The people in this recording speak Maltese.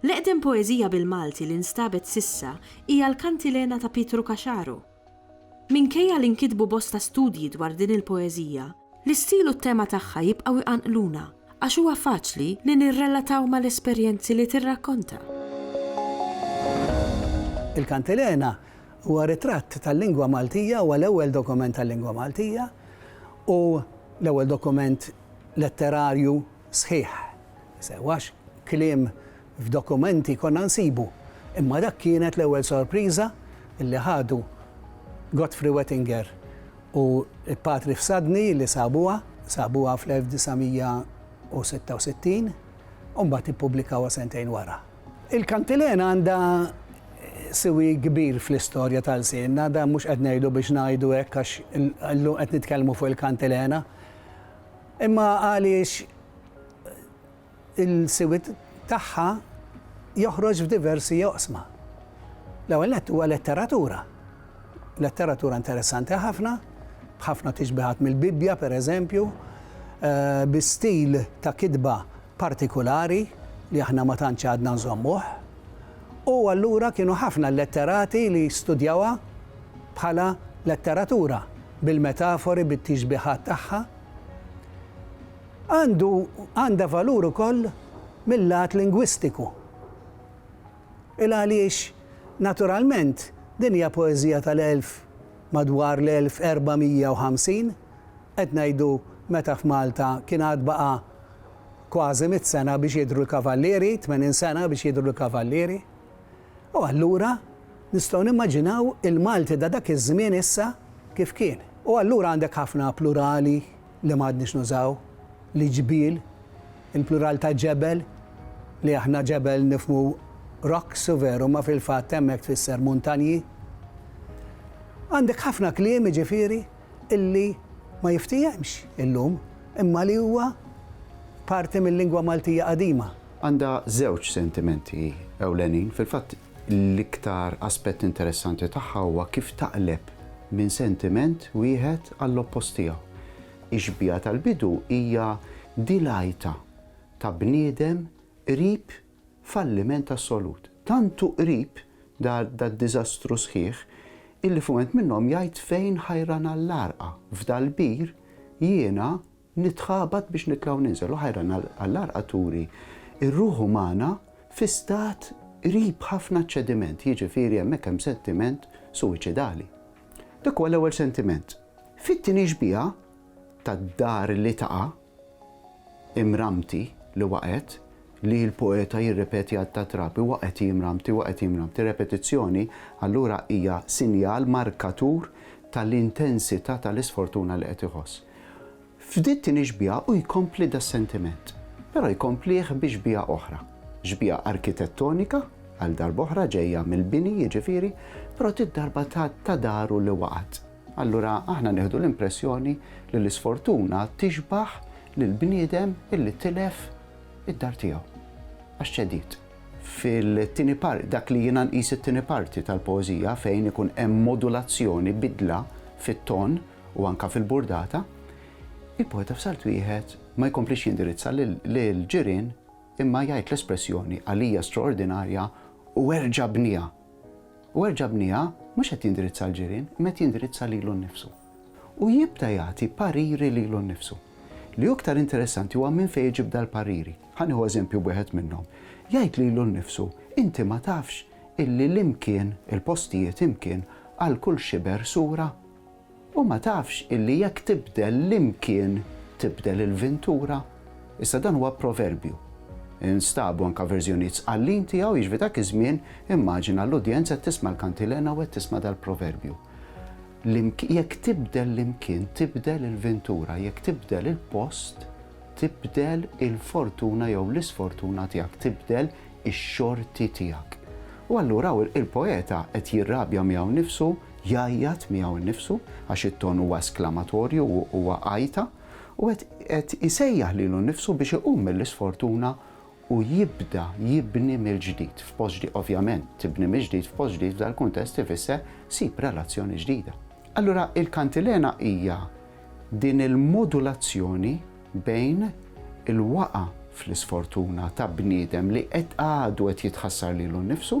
L-eqdem poeżija bil-Malti li nstabet s'issa hija l-Kantilena ta' Pietru Caxaro. Minkejja li nkitbu bosta studji dwar din il-poeżija, L-istil u t-tema tagħha jibqgħu jqanqluna għax huwa faċli li nirrelataw mal-esperjenzi li tirrakkonta. Il-Kantilena huwa ritratt tal-lingwa Maltija, huwa l-ewwel dokument tal-lingwa Maltija u l-ewwel dokument letterarju sħiħ. Sewwax kliem F'dokumenti konna nsibu, imma dak kienet l-ewwel sorpriża li ħadu Godfrey Wettinger u l-Patri Fsadni li sabuha, sabuha fl-1966 u mbagħad ippubblikawha sentejn wara. Il-Kantilena għandha siwi kbir fl-istorja ta' lsienna, dan mhux qed ngħidu biex ngħidu hekk għax illum qed nitkellmu fuq il-Kantilena, imma għaliex, il-siwiet tagħha joħroġ f'diversi oqsma. L-ewwel nett huwa letteratura. Letteratura interessanti ħafna, b'ħafna tixbihat mill-Bibbja pereżempju, bi stil ta' kitba partikulari li aħna ma tantx għadna nżommuh. U allura kienu ħafna l-letterati li studjawha bħala letteratura, bil-metafori, bit-tixbihat tagħha. Għandu, għandha valur ukoll mil-lat lingwistiku. Il għaliex, naturalment, din hija poeżija tal-elf, madwar l-1450, qed ngħidu meta f'Malta kien għad baqa' kważi mitt sena biex jidhru l-kavallieri, tmenin sena biex jidhru l-kavallieri. U allura nistgħu nimmaġinaw il-Malti ta' dak iż-żmien issa kif kien. U allura għandek ħafna plurali li m'għadniex nużaw, li ġbiel, il-plural ta' ġebel, li aħna ġebel nifhmu rocks u veru imma fil-fatt hemmhekk tfisser muntanji. Għandek ħafna kliem jiġifieri illi ma jiftiehemx illum imma li huwa parti mil-lingwa Maltija qadima. Għandha żewġ sentimenti ewlenin, fil-fatt l-iktar aspett interessanti tagħha huwa kif taqleb minn sentiment wieħed għall-oppost tiegħu. Ix-xbieha tal-bidu hija di l-għajta ta' bniedem qrib falliment assolut. Tant hu qrib dad-diżastru sħiħ illi f'mument minnhom jgħid fejn ħajran għall-għarqa, f'dal-bir jiena, Nitħabat biex nitla' u ninżel u ħajran għall-għarqa turi r-ruħ umana fi stat qrib ħafna ċ-ċediment, jiġifieri hemmhekk hemm sentiment suwiċidali. Dak huwa l-ewwel sentiment. Fit-tieni xbieha tad-dar li taqa', imrammti li waqgħet, li l-poeta jirrepeti għadd ta' trab, huwa qed jimramti, huwa qed jimramti. Repetizzjoni, allura, hija sinjal, markatur, tal-intensità tal-isfortuna li qed iħoss. F'dit-tieni xbieha hu jkompli das-sentiment, però jkomplih bi xbieha oħra, xbieha arkitettonika, għal darb'oħra, ġejja mill-bini, jiġifieri, però dit-darba ta' daru li waqgħet. Allura aħna nieħdu l-impressjoni li l-isfortuna tixbah lill-bniedem illi tilef id-dar tiegħu għax ċediet. Fil-tieni par, dak li jiena nqis it-tieni parti tal-poeżija fejn ikun hemm modulazzjoni, bidla fit-ton u anke fil-burdata, il-poeta f'salt wieħed ma jkomplix jindirizza lill-ġirien imma jgħid l-espressjoni għalija straordinarja u erġa' bniha. U erġa' bniha, mhux qed jindirizza l-ġirien, imma qed jindirizza lilu nnifsu. U jibda jagħti pariri lilu nnifsu. Li hu iktar interessanti huwa minn fejn iġib dal-pariri. Ħa nieħu eżempju b'wieħed minnhom. Jgħid lilu nnifsu, Inti ma tafx illi l-imkien, il-postijiet imkien, għal kull xiber sura? U ma tafx illi jekk tibdel l-imkien tibdel il-vintura? Issa dan huwa proverbju. Instabu anke verżjonijiet sqallin tiegħu, jiġifieri dak iż-żmien immaġina l-udjenza qed tisma' l-kantilena u qed tisma' dal-proverbju. L-imk jekk tibdel l-imkien tibdel il-vintura, jekk tibdel il-post tibdel il-fortuna jew l-isfortuna tiegħek, tibdel ix-xorti tiegħek. U allura hawn il-poeta qed jirrabja miegħu nnifsu Jgħajjat miegħu nnifsu, għax it-ton huwa esklamatorju u huwa għajta, u qed isejjaħ lilu nnifsu biex iqum mill-isfortuna u jibda jibni mill-ġdid f'post ġdid. Ovvjament, tibni mill-ġdid f'post ġdid f'dal-kuntest ifisser sib relazzjoni ġdida. Allura il-kantilena hija din il-modulazzjoni bejn il-waqgħa fl-isfortuna ta' bniedem li qed għadu qed jitħassar lilu nnifsu,